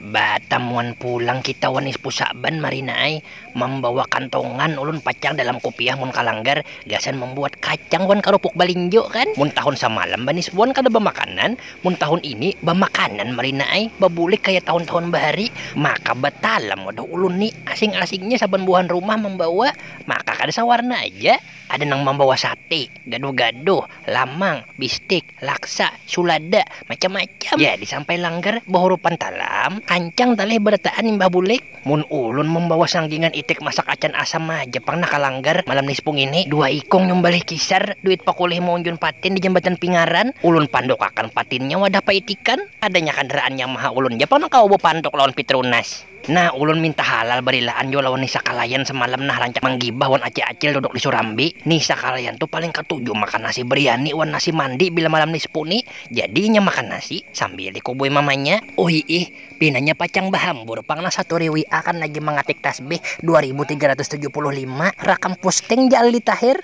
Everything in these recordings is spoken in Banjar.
Batamuan pulang kita wan Ispu Sa'ban marina ai, mambawa kantongan ulun pacang dalam kupiah mun ka langgar gasan mambuat kacang wan karupuk balinjo kan, mun tahun samalam banisbuan kada bamakanan mun tahun ini bamakanan marina ai, babulik kaya tahun-tahun bahari, maka batalam waduh ulun ni asing-asingnya saban buhan rumah mambawa maka kada sawarna aja, ada nang mambawa sate, gaduh-gaduh, lamang, bistik, Laksa, sulada, macam-macam ja disampai langgar bahurupan talam, kancang talih barataan imbah bulik. Mun ulun mambawa sanggingan itik masak acan asam haja pang nah ka langgar malam nispu ngini. Dua ikung nyumbalih kisar, duit pakulih maunjun patin di jambatan pingaran, ulun pandukakan patinnya wadah paitikan. Kadanya kandaraan Yamaha ulun ja pang nang kawa bapanduk lawan Pitronas. Nah, ulun minta halal barilaan jua lawan Nisa Kalayan semalam nah rancak manggibah wan Acil Acil duduk di Surambi. Nisa Kalayan tu paling katuju makan nasi briani wan nasi mandi bila malam di Spu ni. Jadi inya makan nasi sambil dikubui mamanya. Uhiih, pinanya pacang bahambur pang nah saturi WA akan lagi mangatik tasbih dua ribu tiga ratus tujuh puluh lima rakam pusting ja Aldi Tahir.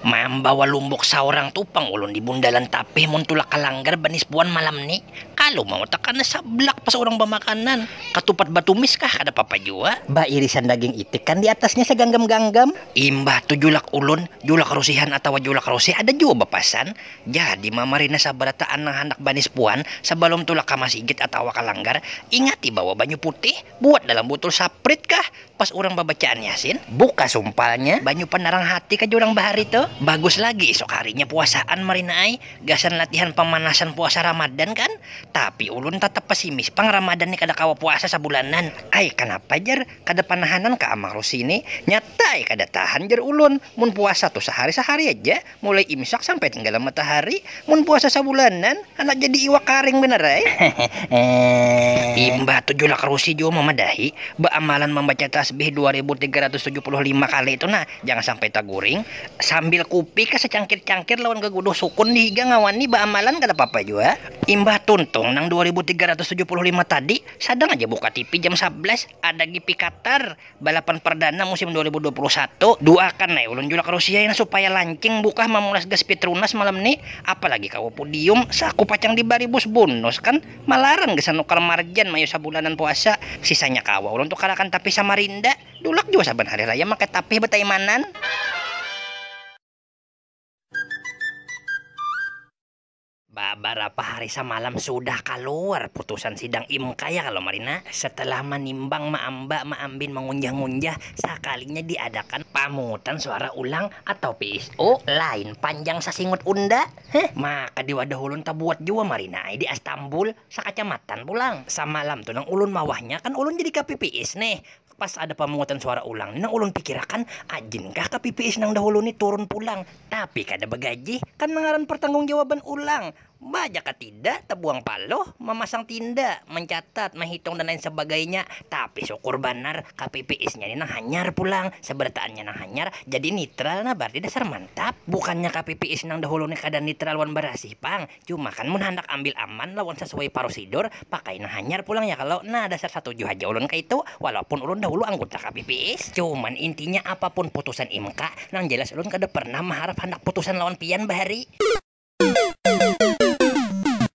Mambawa lumbuk saurang tu pang ulun di bundalan tapih mun tulak ka langgar banisbuan malam ni kalu mau takana sablak pas urang bamakanan katupat batumis kah kada papa jua bairisan daging itik kan di atasnya saganggam-ganggam. Imbah tu julak ulun, julak rusihan atawa julak rusih ada jua bapasan, jadi mamarina sabarataan nang handak banisbuan sabalum tulak ka masigit atawa ka langgar ingati bawa banyu putih. Buat dalam butul saprit kah pas urang babacaan yasin? Buka sumpalnya, banyu panarang hati kah jar urang bahari tu? Bagus lagi isuk harinya puasaan marina ai, gasan latihan pamanasan puasa ramadan kan? Tapi ulun tatap pesimis pang ramadan ni kada kawa puasa sabulanan ai kanapa jar kada panahanan kah amang rusi ni? Nyata ai kada tahan jar ulun mun puasa tu sahari-sahari aja. Mulai imsak sampai tenggalam matahari, mun puasa sabulanan, handak jadi iwak karing banar ai. Imbah tu julak rusi jua mamadahi, baamalan mambaca tasbih dua ribu tiga ratus tujuh puluh lima kali tu nah, jangan sampai taguring, sambil kupi ka sacangkir-cangkir lawan gaguduh sukun di higa ngawani baamalan kada papa jua. Imbah tuntung nang dua ribu tiga ratus tujuh puluh lima tadi, sadang aja buka tipi jam sablas, ada GP Qatar. Balapan perdana musim dua ribu dua puluh satu, duakan ai ulun julak Rusia ini supaya lancing bukah mamulas gas Petronas malam ni, apalagi kawa pudium, saku pacang dibari bus bunus kan, malaran gasan nukar marjan mayu sabulanan puasa, sisanya kawa ulun tukarakan tapih Samarinda, dulak jua saban hari raya makai tapih bataimanan. Babarapa hari samalam sudah kaluar putusan sidang imk ya kalo Marina. Setelah manimbang maamba maambin mangunjah-ngunjah, sakalinya diadakan pamungutan suara ulang atau PSO lain panjang sasingut unda. Heh, maka di wadah ulun tabuat jua Marina ai di Astambul, sakacamatan pulang. Samalam tu nang ulun mawahnya kan ulun jadi kpps neh. Pas ada pamungutan suara ulang ni nang ulun pikirakan, ajin kah ka PPS nang dahulu ni turun pulang, tapi kada bagajih, kan mangaran pertanggungjawabban ulang, ba jaka tida, tabuang paluh, mamasang tinda, mancatat, mahitung dan lain sabagainya, tapi sukur banar ka PPS nya ni nang hanyar pulang, sabarataan nya nang hanyar, jadi nitral nah bararti dasar mantap, bukannya ka PPS nang dahulu ni kada nitral wan barasih pang. Cuma kan mun handak ambil aman lawan sasuai parusidur, pakai nang hanyar pulang ya kalo. Nah, dasar satuju haja ulun kaitu. Walaupun ulun dahulu angguta KPPS. Cuman intinya apapun putusan MK, nang jalas ulun kada pernah maharap handak putusan lawan pian bahari.